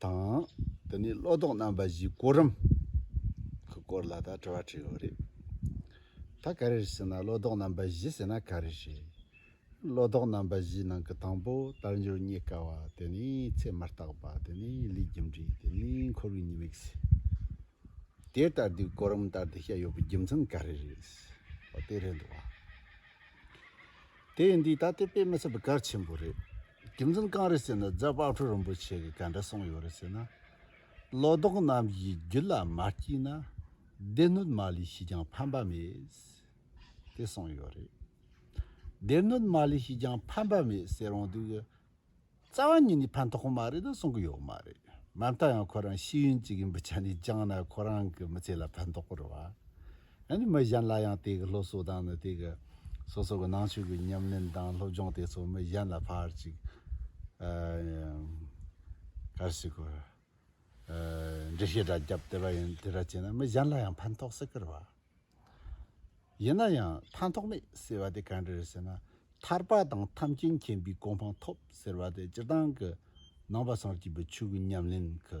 དང། འདི་ནས་བློ་ལྡོག་རྣམ་པ་བཞིའི་སྐོར་རམ། གི་སྐོར་ལ་ད་དྲི་བ་དྲིས་ཡོད་རེད། ད་ག་རེ་རེད་ཟེར་ན་བློ་ལྡོག་རྣམ་པ་བཞི་ཟེར་ན་ག་རེ་རེད། བློ་ལྡོག་རྣམ་པ་བཞིའི་ནང་གི་དང་པོ་རྟགས་འབྱོར་རྙེད་དཀའ་བ་དེ་ནི་ཚད་མ་རྟག་པ་དེ་ནི་ལུས་རྒྱུ་འབྲས་དེ་ནི་འཁོར་བའི་ཉེས་དམིགས། དེ་ལྟར་དུས་གོ་རིམ་ལྟར་དུ་བཤད་ཡོད་པའི་རྒྱུ་མཚན་ག་རེ་རེད། འོ་དེ་རེད་འདུག་བ། དེ་འདི་ད་ལྟའི་དཔེ་མི་སྲིད་པའི་གལ་ཆེན་པོ་རེད། རྒྱུ་མཚན་གང་རེད་ཟེར་ན་རྫ་དཔག་ཁྲོ་རིན་པོ་ཆེ་གིས་ག་འདྲ་གསུངས་ཡོད་རེད་ཟེར་ན། བློ་ལྡོག་རྣམས་ཀྱིས་རྒྱུད་ལ་མ་སྐྱེས་ན་སྡེ་སྣོད་མ་ལས་ཤིག་ཀྱང་ཕན་པ་མེད། དེ་གསུངས་ཡོད་རེད། སྡེ་སྣོད་མ་ལས་ཤིག་ཀྱང་ཕན་པ་མེད་ཟེར་འོང་དུས། རྩ་བ་ཉིད་ནས་ཕན་ཐོགས་མ་རེད་ད་གསུང་གི་ཡོད་མ་རེད། མ་མཐའ་ཡང་ཁོ་རང་ཤེས་ཡོན་ཅིག་ཡིན་པ་ཆ་ནས་བཅངས་ན་ཁོ་རང་གི་མི་ཚེ་ལ་ཕན་ཐོགས་པར་བ། ཡང་ན་མི་གཞན་ལ་ཡང་དེ་གི་སློབ་གསོ་དང་ནི་དེ་གི་སོ་སོ་གི་ནང་ཆོས་ཀྱི་ཉམས་ལེན་དང་སློབ་སྦྱོང་དེ་ཚོ་མི་གཞན་ལ་ཕར་ཅིག་ཕར་ཞིག་གོ་འགྲེལ་བཤད་འདྲ་རྒྱབ་དེ་བ་ཡིན་དེ་འདྲ་བྱས་ན་མི་གཞན་ལ་ཡང་ཕན་ཐོགས་སེ་ཁུར་བ་ཡིན་ན་ཡང་ཕན་ཐོགས་མེད་ཟེར་བ་དེ་གང་འདྲ་ཟེར་ན་ཐར་པ་དང་ཐམས་ཅད་མཁྱེན་པའི་གོ་འཕང་ཐོབ་ཟེར་བ་དེ་སྤྱིར་བཏང་གི་ནང་པ་སངས་རྒྱས་པའི་ཆོས་ཀྱི་ཉམས་ལེན་གྱི་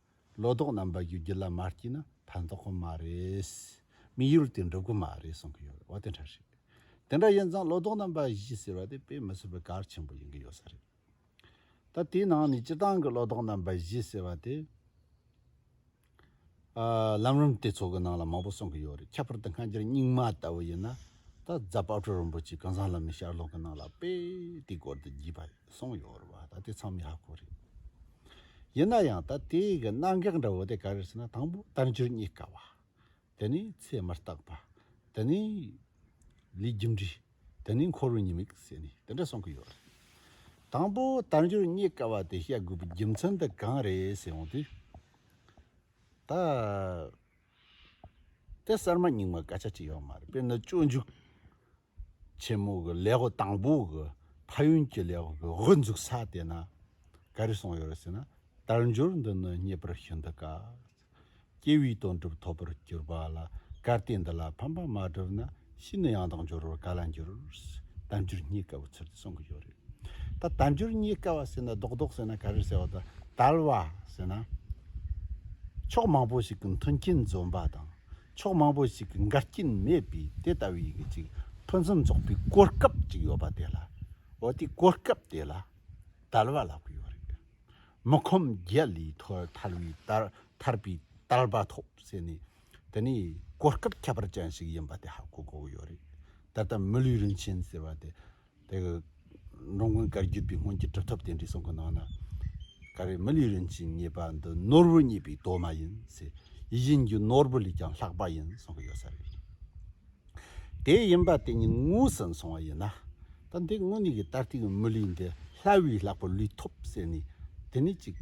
ལོ་ཏོག་རྣམ་པ་ཡོད་རྒྱུ་ལ་མ་སྐྱིད་ན་ཕན་ཐོག་གི་མ་རེད། མི་ཡུལ་དེ་འགྲུབ་གི་མ་རེད་གསུང་གི་ཡོད་རེད་འོ་དེ་འདྲ་རེད། དེ་འདྲ་ཡིན་ཙང་ལོ་ཏོག་རྣམ་པ་བཞི་ཟེར་བ་དེ་དཔེ་མི་སྲིད་པའི་གར་ཆེན་པོ་ཡིན་གི་ཡོད་ས་རེད། ད་དེའི་ནང་ནས་སྤྱི་བཏང་གི་ལོ་ཏོག་རྣམ་པ་བཞི་ཟེར་བ་དེ། ལམ་རིམ་དེ་ཚོ་གི་ནང་ལ་མང་པོ་གསུང་གི་ཡོད་རེད་ཁྱད་པར་དུ་སྔ་འགྱུར་རྙིང་མ་ལྟ་བུ་ཡིན་ན་ད་རྫ་དཔའ་བྲོ་རིན་པོ་ཆེ་གང་ཟང་ལ་མི་ཤར་ལོག་གི་ནང་ལ་དཔེ་དེའི་སྐོར་དུ་བགྱིས་པ་ཡོད། གསུངས་ཡོད་རེད་བ་ད་ལྟའི་ཚང་མི་ཧ་གོ་རེད། ཡིན་ན་ཡང་ད་ལྟའི་གི་གནད་འགག་འདྲ་བོ་དེ་ག་རེད་ཟེར་ན་དང་པོ་དལ་འབྱོར་རྙེད་དཀའ་བ། དེ་ནས་ཚད་མ་རྟག་པ། དེ་ནས་ལུས་རྒྱུ་འབྲས། དེ་ནས་འཁོར་བའི་ཉེས་དམིགས་ཟེར་ནས་དེ་འདྲ་གསུངས་གི་ཡོད་རེད། དང་པོ་དལ་འབྱོར་རྙེད་དཀའ་བ་དེ་བཤད་དགོས་པའི་རྒྱུ་མཚན་དེ་གང་རེད་ཟེར་འོང་དུས། ད་ལྟའི་གསར་མ་རྙིང་མ་སྐད་ཆ་དྲི་ཡོད་མ་རེད་དཔེར་ན་སྤྱོད་འཇུག་ཆེན་མོ་གི་ལས་སྒོ་དང་པོ་གི་ཕ་ཡུལ་གྱི་ལས་སྒོ་འཛུགས་ས་དེ་ན་ག་རེ་སོང་ཡོད་རེད་ཟེར་ན་དལ་འབྱོར་འདི་ནི་རྙེད་པར་ཤིན་ཏུ་དཀའ། སྐྱེ་བོའི་དོན་གྲུབ་ཐོབ་པར་གྱུར་པ་ལ་གར་སྟེགས་འདི་ལ་ཕན་པ་མ་བསྒྲུབས་ན་ཤི་ནས་ཡང་དག་འབྱོར་བར་ག་ལ་འགྱུར། དལ་འབྱོར་རྙེད་དཀའ་བའི་ཚུལ་དུ་གསུང་གི་ཡོད་རེད། ད་དལ་འབྱོར་རྙེད་དཀའ་བ་ཟེར་ན་རྡོག་རྡོག་ཟེར་ན་ག་རེ་ཟེར་བ་དང་དལ་བ་ཟེར་ན། ཕྱོགས་མང་པོ་ཞིག་གི་མཐུན་རྐྱེན་འཛོམས་པ་དང་ཕྱོགས་མང་པོ་ཞིག་གི་འགལ་རྐྱེན་མེད་པའི་དེ་ལྟ་བུའི་གི་ཅིག་ཕུན་སུམ་ཚོགས་པའི་གོ་སྐབས་ཅིག་ཡོད་པ་དེ་ལ་འོ་དེ་གོ་སྐབས་དེ་ལ་དལ་བ་ལག་པས་ཡོད་རེད་དེ་མི་ཁོམ་རྒྱལ་ལས་ཐོལ་ཐལ་བའི་དལ་ཐར་པའི་དལ་བ་ཐོབ་ཟེར་ནས་དེ་ནས་གོ་སྐབས་ཁྱད་པར་ཅན་ཞིག་ཡིན་པ་དེ་ཧ་གོ་དགོས་ཡོད་རེད་ད་ལྟ་མི་ལུས་རིན་ཆེན་ཟེར་བ་དེ། དེ་གི་འགྲོ་མགོན་བཀའ་བརྒྱུད་པའི་སྔོན་གྱི་དྲིལ་ཐབས་རྟེན་འབྲེལ་གསུང་གི་ནང་ན། ཀ་རེ་མི་ལའི་རིན་ཆེན་རྙེད་པ་འདི་ནོར་བུ་རྙེད་པའི་གདོད་མ་ཡིན་ཚེ་ཡིད་བཞིན་གྱི་ནོར་བུ་ལས་ཀྱང་ལྷག་པ་ཡིན་གསུང་གི་ཡོད་ས་རེད། དེ་ཡིན་པ་དེ་ཉིད་དངོས་སུ་མཚུངས་བ་ཡིན་ན། ད་འདི་དངོས་གནས་ཀྱི་ད་ལྟའི་མི་ལུས་འདི་སླ་བས་ལྷག་པར་ལུས་ཐོབ་བསད་ནས་དེ་ནས་ཅིག།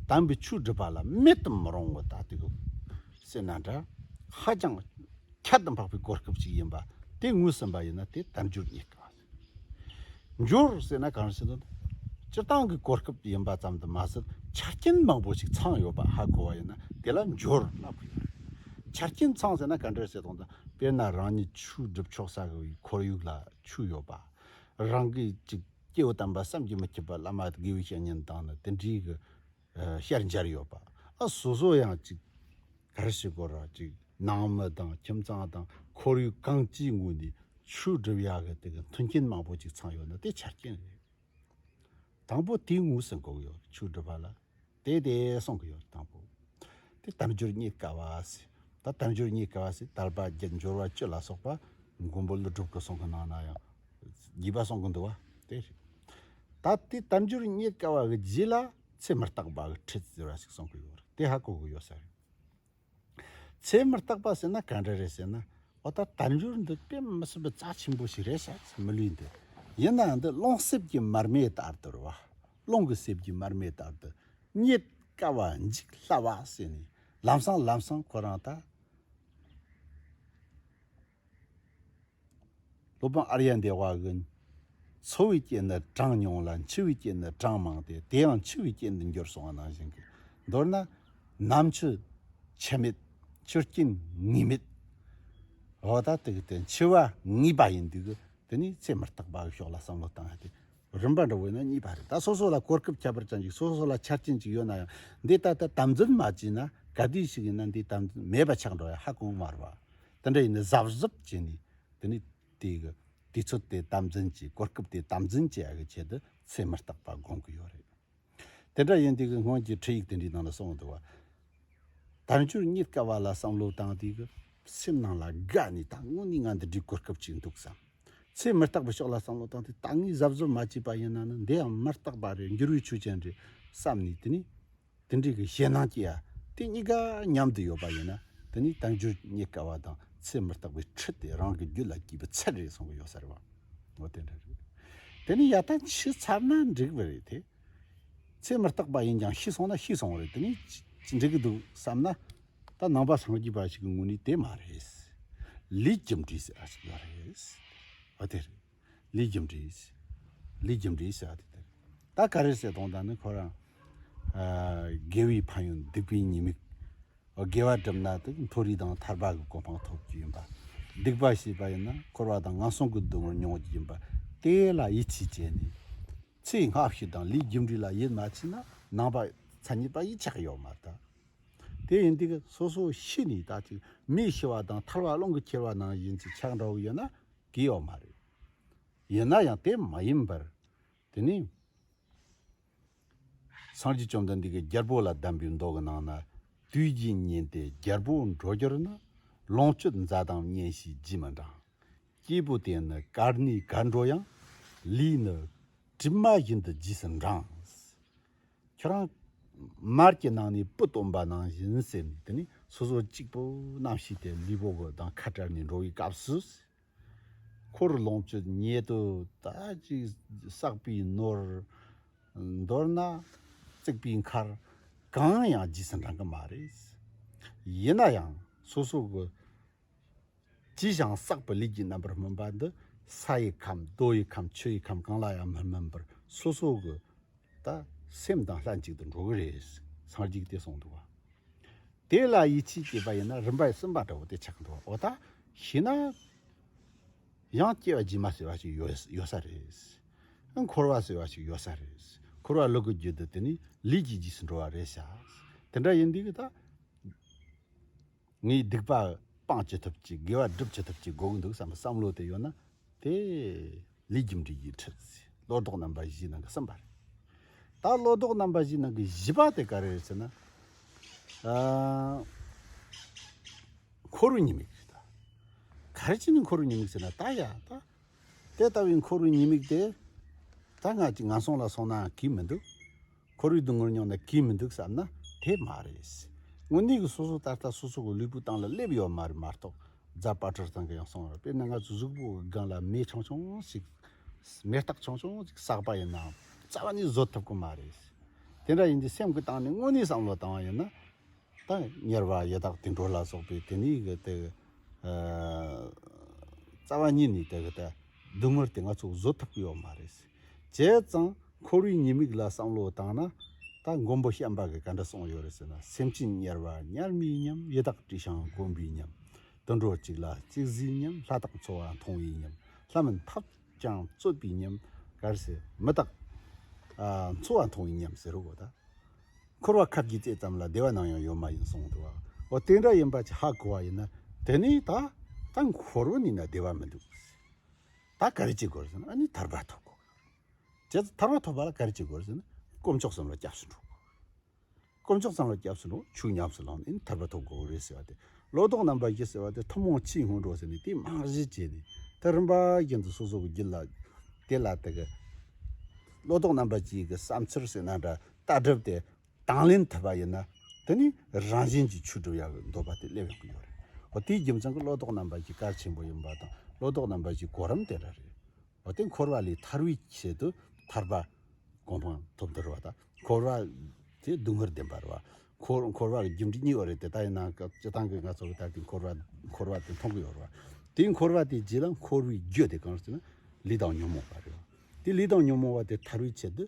དམ་པའི་ཆོས་སྒྲུབ་པ་ལ་མེད་དུ་མི་རུང་བ་ད་ལྟའི་བསད་ན་འདྲ་ཧ་ཅང། ཁྱད་དུ་འཕགས་པའི་གོ་སྐབས་ཅིག་ཡིན་པ་དེ་ངོས་ཟིན་པ་ཡིན་ན་དེ་དལ་འབྱོར་རྙེད་དཀའ། འབྱོར་ཟེར་ན་གང་ཞིག་དང། སྤྱིར་བཏང་གི་གོ་སྐབས་ཡིན་པ་ཙམ་དུ་མ་ཟད་ཆ་རྐྱེན་མང་པོ་ཞིག་ཚང་ཡོད་པ་ཧ་གོ་བ་ཡིན་ན་དེ་ལ་འབྱོར་ལབ་ཀྱི་ཡོད། ཆ་རྐྱེན་ཚང་ཟེར་ན་ག་འདྲའི་བྱེད་སྟངས་དང་དཔེར་ན་རང་ཉིད་ཆུ་སྒྲིབ་ཆོག་ས་གི་ཁོར་ཡུག་ལ་ཆུ་ཡོད་པ། རང་གིས་ཅིག་སྐྱེ་བོ་དམ་པ་བསམ་གྱིས་མི་ཁྱབ་པ་བླ་མ་དགེ་བའི་བཤེས་གཉེན་དང་ནི་དེ་འདྲའི་གི་ཤར་འབྱར་ཡོད་པ་ཨ་སོ་སོ་ཡང་གཅིག་གར་ཞིག་གོ་ར་གཅིག་ནང་མི་དང་ཁྱིམ་ཚང་དང་ཁོར་ཡུག་གང་ཅིའི་ངོས་ནས་ཆུ་སྒྲིབ་ཡག་གི་དེ་གི་མཐུན་རྐྱེན་མང་པོ་ཅིག་ཚང་ཡོད་ན་དེ་ཆ་རྐྱེན་རེད། དང་པོ་དེའི་ངོས་སུ་འགོག་ཡོད་ཆུ་སྒྲིབ་པ་ལ་དེ་དེ་སོང་གི་ཡོད་དང་པོ་དེ་དལ་འབྱོར་རྙེད་དཀའ་བ་སི་ད་དལ་འབྱོར་རྙེད་དཀའ་བ་སི་དལ་པ་བརྒྱད་འབྱོར་བ་བཅུ་ལ་སོགས་པ་མགོན་པོ་ཀླུ་སྒྲུབ་གི་གསུང་གི་ནང་ན་ཡང་བགྱིས་པ་གསུང་གི་འདུག་བ་དེ་རེད། ད་དེ་དལ་འབྱོར་རྙེད་དཀའ་བ་གི་རྗེས་ལ་ཚེ་མི་རྟག་པ་གི་ཁྲིད་ཟེར་བ་ཞིག་གསུང་གི་ཡོད་རེད་དེ་ཧ་གོ་གི་ཡོད་ས་རེད། ཚེ་མི་རྟག་པ་ཟེར་ན་ག་འདྲ་རེད་ཟེར་ན་འོ་ད་དལ་འབྱོར་འདི་དཔེ་མི་སྲིད་པའི་རྩ་ཆེན་པོ་ཞིག་རེད་ས་ཚེ་མི་ལུས་འདི་ཡིན་ནའང་འདི་རླུང་གསེབ་ཀྱི་མར་མེ་ལྟར་དུ་རེད་བ། རླུང་གི་གསེབ་ཀྱི་མར་མེ་ལྟར་དུ་རྙེད་དཀའ་བ་འཇིག་སླ་བ་ཟེར་ནས་ལམ་སང་ལམ་སང་ཁོ་རང་ད། སློབ་དཔོན་ཨརྱ་འདས་བ་ཨི། འཚོ་བའི་རྐྱེན་ནི་གྲངས་ཉུང་ལ་འཆི་བའི་རྐྱེན་ནི་གྲངས་མང་སྟེ་དེ་ཡང་འཆི་བའི་རྐྱེན་དུ་འགྱུར་གསུང་བ་ནང་བཞིན་གྱིས་མདོར་ན། ནམ་འཆི། འཆི་མེད། འཆི་རྐྱེན་ངེས་མེད། འོ་ད་དེ་གི་དོན་འཆི་བ་ངེས་པ་ཡིན་དུས་དེ་ནས་ཚེ་མི་རྟག་པ་འི་ཕྱོགས་ལ་བསམ་བློ་བཏང་ཡ་དེ་རིམ་པ་འདྲ་བོ་ཡིན་ན་གཉིས་པ་རེད་ད་སོ་སོ་ལ་གོ་སྐབས་ཁྱད་པར་ཅན་གྱི་སོ་སོ་ལ་ཆ་རྐྱེན་ཅིག་ཡོད་ན་ཡང་འདི་ལྟ་སྟེ་དམ་འཛིན་མ་བྱས་ན་ག་དུས་ཤིག་ཡིན་ན་འདི་དམ་འཛིན་མེད་པ་ཆགས་འགྲོ་ཡ་ཧ་གོ་མ་རུ་བ་དེ་འདྲ་ཡིན་ན་གཟབ་གཟབ་བྱས་ནས་དེ་ནས་དེ་གི་དུས་ཚོད་དེ་དམ་འཛིན་གྱིས་གོ་སྐབས་དེ་དམ་འཛིན་གྱིས་ཨ་གི་ཆེད་དུ་ཚེ་མི་རྟག་པ་དགོངས་ཀྱི་ཡོད་རེད། དེ་འདྲ་ཡིན་དེ་གི་སྔོན་གྱི་འཕྲིན་ཡིག་དེ་འདྲའི་ནང་ལ་སོང་འདུག་བ། དལ་འབྱོར་རྙེད་དཀའ་བ་ལ་བསམ་བློ་དང་དེ་གི་སེམས་ནང་ལ་དགའ་ནས་ད་དངོས་ནས་ང་འདི་འདྲའི་གོ་སྐབས་ཅིག་འདུག་བསམ། ཚེ་མི་རྟག་པའི་ཕྱོགས་ལ་བསམ་བློ་བཏང་སྟེ་ད་ངས་གཟབ་གཟབ་མ་བྱས་པ་ཡིན་ན་ནི་འདི་ཡང་མི་རྟག་པ་རེད་འགྱུར་བའི་ཆོས་ཅན་རེད་བསམ་ནས་དེ་ནས་འདི་འདྲ་གི་ཞེད་སྣང་སྐྱེ་ཡ་དེ་གཉིས་ཀ་མཉམ་དུ་ཡོད་པ་ཡིན་ན་དེ་ནི་བཏང་འགྱུར་རྙེད་དཀའ་བ་དང་ཚེ་མི་རྟག་པའི་ཁྲི་སྟེ་རང་གི་རྒྱུད་ལ་སྐྱིད་པོ་ཚད་རེད་གསུང་གི་ཡོད་ས་རེད་བ། འོ་དེ་འདྲ་རེད། དེ་ནི་ཡག་ཐང་ཆུད་ཚར་ན་འགྲིག་བ་རེད་དེ། ཚེ་མི་རྟག་པ་ཡིན་ཀྱང་ཤི་སོང་ན་ཤི་སོང་བ་རེད་དེ་ནི་ཅི་འགྲིག་གི་འདུག་བསམ་ན། ད་ནང་པ་སངས་རྒྱས་པ་ཞིག་གི་ངོ་ནས་དེ་མ་རེད། ལས་ཀྱི་འབྲས་ཟེར་བ་ཞིག་ཡོད་རེད། འོ་དེ་རེད། ལི་རྒྱམ་རི། ལི་རྒྱམ་རི་ཟེར་བ་དེ་དེར་ད་ག་རེ་ཟེར་གདོང་དང་ནི་ཁོ་རང། རྒས་བའི་ཕ་ཡུལ་སྡིག་པའི་ཉེས་དམིགས། རྒས་བ་གྲུབ་ན་དེ་མཐོ་རིས་དང་ཐར་པ་གི་གོ་འཕང་ཐོབ་རྒྱུ་ཡིན་པ། སྡིག་པ་བྱས་པ་ཡིན་ན་འཁོར་བ་དང་ངན་སོང་གི་སྡུག་བསྔལ་མྱོང་རྒྱུ་ཡིན་པ་དེ་ལ་ཡིད་ཆེས་བྱས་ནས། ཚེ་སྔ་ཕྱི་དང་ལི་རྒྱམ་རི་ལ་ཡིད་མ་ཆེས་ན་ནང་པ་མཚན་ཉིད་པ་ཡིད་ཆགས་ཡོད་མ་ད། དེ་ཡིན་དུས་སོ་སོ་ཤི་ནས་ད་ཅིག་མི་ཤི་བ་དང་ཐར་བ་ཀློང་གི་ཁྱེར་བ་ནང་བཞིན་གྱི་ཆགས་འདྲ་བོ་ཡོད་ན་གི་ཡོད་མ་རེད། ཡིན་ན་ཡང་དེ་མ་ཡིན་པར། དེ་ནི། སངས་རྒྱས་བཅོམ་ལྡན་འདས་ཀྱིས་རྒྱལ་པོ་ལ་གདམས་པའི་མདོ་གི་ནང་ན། དུས་བཞི་ཉིན་ཏེ་རྒྱལ་པོ་འགྲོ་འགྱུར་ན། ལོངས་སྤྱོད་མཛའ་དང་གཉེན་ཞིག་བགྱིད་མི་འབྲང། སྐྱེས་བུ་དེ་ནི་གར་ནི་གར་འགྲོ་ཡང། ལུས་ནི་གྲིབ་མ་བཞིན་དུ་བགྱིས་སུ་འབྲང། ཁྱོད་རང། མར་གྱི་ནང་ནས་སྤུ་སྟོན་པ་ནང་བཞིན་ཟེར་ནས་དེ་ནས་སོ་སོ་གཅིག་པུ་རྣམས་ཤི་སྟེ་ལུས་པོ་གི་དང་ཁ་བྲལ་ནས་འགྲོ་བའི་སྐབས་སུ། འཁོར་རུ་ལོངས་སྤྱོད་ཉེ་དུ་དག་ཅིག་བསགས་པའི་ནོར། མདོར་ན། བརྩེགས་པའི་མཁར། གང་ཡང་རྗེས་སུ་འབྲང་གི་མ་རེད། ཡིན་ན་ཡང་སོ་སོ་གི། ཅི་བྱང་བསགས་པའི་ལས་ཀྱི་རྣམ་པར་སྨིན་པ་འདི་ས་ཡི་ཁམས་རྡོ་ཡི་ཁམས་ཆུ་ཡི་ཁམས་གང་ལ་ཡང་མི་སྨིན་པར་སོ་སོ་གི་ད་སེམས་དང་ལྷན་ཅིག་ཏུ་འགྲོ་གི་རེད་སངས་རྒྱས་ཀྱིས་གསུངས་འདུག་དེ་ལ་ཡིད་ཆེས་བསྐྱེད་པ་ཡིན་ན་རིམ་པས་སེམས་པ་འདྲ་བོ་དེ་ཆགས་འགྲོ་བ་འོ་ད་ཤི་ན་ཡང་སྐྱེ་བ་རྗེས་མ་ཟེར་བ་ཞིག་ཡོད་ས་རེད། འཁོར་བ་ཟེར་བ་ཞིག་ཡོད་ས་རེད། འཁོར་བ་ལུག་གི་རྒྱུད་དུ་དེ་ནི་ལུས་ཀྱི་རྗེས་སུ་འགྲོ་བ་རེད་བྱ། དེ་འདྲ་ཡིན་དུས་ད། ངས་སྡིག་པ་སྤང་ཅི་ཐུབ་ཀྱིས་དགེ་བ་སྒྲུབ་ཅི་ཐུབ་ཀྱིས་དགོངས་འདུག་བསམ་པའི་བསམ་བློ་དེ་ཡོད་ན་དེ་ལས་རྒྱུ་འབྲས་ཀྱི་ཁྲིད་ཚེ་བློ་ལྡོག་རྣམ་པ་བཞིའི་ནང་གི་གསུམ་པ་རེད། ད་བློ་ལྡོག་རྣམ་པ་བཞིའི་ནང་གི་བཞི་པ་དེ་ག་རེ་རེད་ཟེར་ན། འཁོར་བའི་ཉེས་དམིགས་རེད་ད། ག་རེ་བྱས་ནས་འཁོར་བའི་ཉེས་དམིགས་ཟེར་ན་ད་ཡ་ད་དེ་ལྟ་བུའི་འཁོར་བའི་ཉེས་དམིགས་དེ། ད་སྔ་ཅི་ང་སོང་ལ་སོང་ནའང་གིས་མི་འདུག། འཁོར་བའི་སྡུག་བསྔལ་མྱོང་ནས་གིས་མི་འདུག་བསམ་ན་དེ་མ་རེད། དངོས་གནས་ཀྱི་སོ་སོ་ད་ལྟ་སོ་སོ་གི་ལུས་པོའི་སྟེང་ལ་སླེབས་ཡོད་མ་རེད་མ་གཏོགས་རྫ་དཔའ་གྲོ་ཚང་གི་ཡང་སོང་བ་པས་ན་ང་ཚོའི་གཟུགས་པོ་གི་སྒང་ལ་མེ་ཆུང་ཆུང་ཞིག། མེ་སྟག་ཆུང་ཆུང་ཅིག་བསགས་པ་ཡིན་ནའང་རྩ་བ་ནས་བཟོད་ཐུབ་ཀྱི་མ་རེད། དེ་འདྲ་ཡིན་དུས་སེམས་ཀྱི་སྟེང་ནས་དངོས་གནས་བསམ་བློ་བཏང་བ་ཡིན་ན། དང་གཉེར་བ་ཡི་དྭགས་དུད་འགྲོ་ལ་སོགས་པའི་དེ་ནས་གི་དེ། རྩ་བ་ཉིད་ནས་དེ་གི་དེ། སྡུག་བསྔལ་དེ་ང་ཚོ་བཟོད་ཐུབ་ཀྱི་ཡོད་མ་རེད། བྱས་ཙང་འཁོར་བའི་ཉེས་དམིགས་ལ་བསམ་བློ་བཏང་ན། ད་མགོན་པོ་བྱམས་པ་གི་ག་འདྲ་གསུངས་ཡོད་རེད་ཟེར་ན་སེམས་ཅན་དམྱལ་བ་དམྱལ་མིའི་ཉམས་ཡི་དྭགས་དྲི་བྱང་དཀོན་པའི་ཉམས། དུད་འགྲོ་གཅིག་ལ་གཅིག་བཟོས་ཉམས་ལྷ་དང་འཚོ་བ་མཐོང་བའི་ཉམས་ལྷ་མིན་ཐབས་ཀྱང་རྩོད་པའི་ཉམས། ག་རེ་ཟེར་མི་དང། འཚོ་བ་མཐོང་བའི་ཉམས་ཟེར་རོ་གོ་ད། འཁོར་བ་ཁ་བརྒྱུད་དེ་ཙམ་ལ་བདེ་བ་ནམ་ཡང་ཡོད་མ་ཡིན་གསུངས་འདུག་འོ་དེ་འདྲ་ཡིན་པ་ཅི་ཧ་གོ་བ་ཡིན་ན་དེ་ནས་ད་ད་འཁོར་བ་ནི་ན་བདེ་བ་མི་འདུག་ད་ག་རེ་བྱེད་དགོས་ཟེར་ན་ཨ་ནི་ཐར་པ་ཐོབ་དགོས་དེ་ཚོ་ཐར་པ་ཐོབ་པ་ལ་ག་རེ་བྱེད་དགོས་ཟེར་ན་དཀོན་མཆོག་གསུམ་ལ་སྐྱབས་སུ་འགྲོ་དགོས་དཀོན་མཆོག་གསུམ་ལ་སྐྱབས་སུ་འགྲོ་ཆུག་ཉམས་སུ་བླངས་ནས་ཨ་ནི་ཐར་པ་ཐོབ་དགོས་ཀྱི་རེད་ཟེར་བ་དེ་ལོ་ལྡོག་རྣམ་པ་བཞི་ཟེར་བ་དེ་ཐུན་མོང་ཕྱིའི་སྔོན་འགྲོ་ཟེར་ནས་དེ་རྨང་གཞི་བྱས་ནས་དེ་རིམ་པ་བཞིན་དུ་སོ་སོ་གི་རྒྱུད་ལ་དེ་ལ་དེ་གི་ལོ་ལྡོག་རྣམ་པ་བཞིའི་གི་བསམ་ཚུལ་ཟེར་ན་འདྲ་ལྟ་གྲུབ་དེ་དང་ལེན་ཐུབ་པ་ཡིན་ན་དེ་ནི་རང་བཞིན་གྱིས་ཆོས་སྒྲུབ་ཡག་པོ་འདོད་པ་དེ་སླེབས་ཡོང་གི་ཡོད་རེད། འོ་དེའི་རྒྱུ་མཚན་གྱི་བློ་ལྡོག་རྣམ་པ་གྱི་གར་ཆེན་པོ་ཡིན་པ་དང་བློ་ལྡོག་རྣམ་པ་གྱི་གོ་རིམ་དེ་འདྲ་རེད། འོ་དེ་འཁོར་བ་ལས་ཐར་བའི་ཆེད་དུ་ཐར་པ་གོང་འཕང་ཐོབ་འདོད་རེད་བ་དང་འཁོར་བ་དེ་སྡུག་བསྔལ་བདེན་པ་རེད་བ། འཁོར་བ་གི་རྒྱུ་འབྲས་གཉིས་ཡོད་རེད་དེ་ལྟ་ཡིན་ན་སྤྱི་བཏང་གི་ང་ཚོ་གི་ད་གི་འཁོར་བ་འཁོར་བ་དེ་མཐོང་གི་ཡོད་རེད་བ། དེའི་འཁོར་བ་དེའི་རྗེས་ལ་འཁོར་བའི་རྒྱུ་དེ་གང་རེད་ཟེར་ན་ལུས་དང་ཉོན་མོངས་པ་རེད་བ། དེ་ལུས་དང་ཉོན་མོངས་པ་དེ་ཐར་བའི་ཆེད་དུ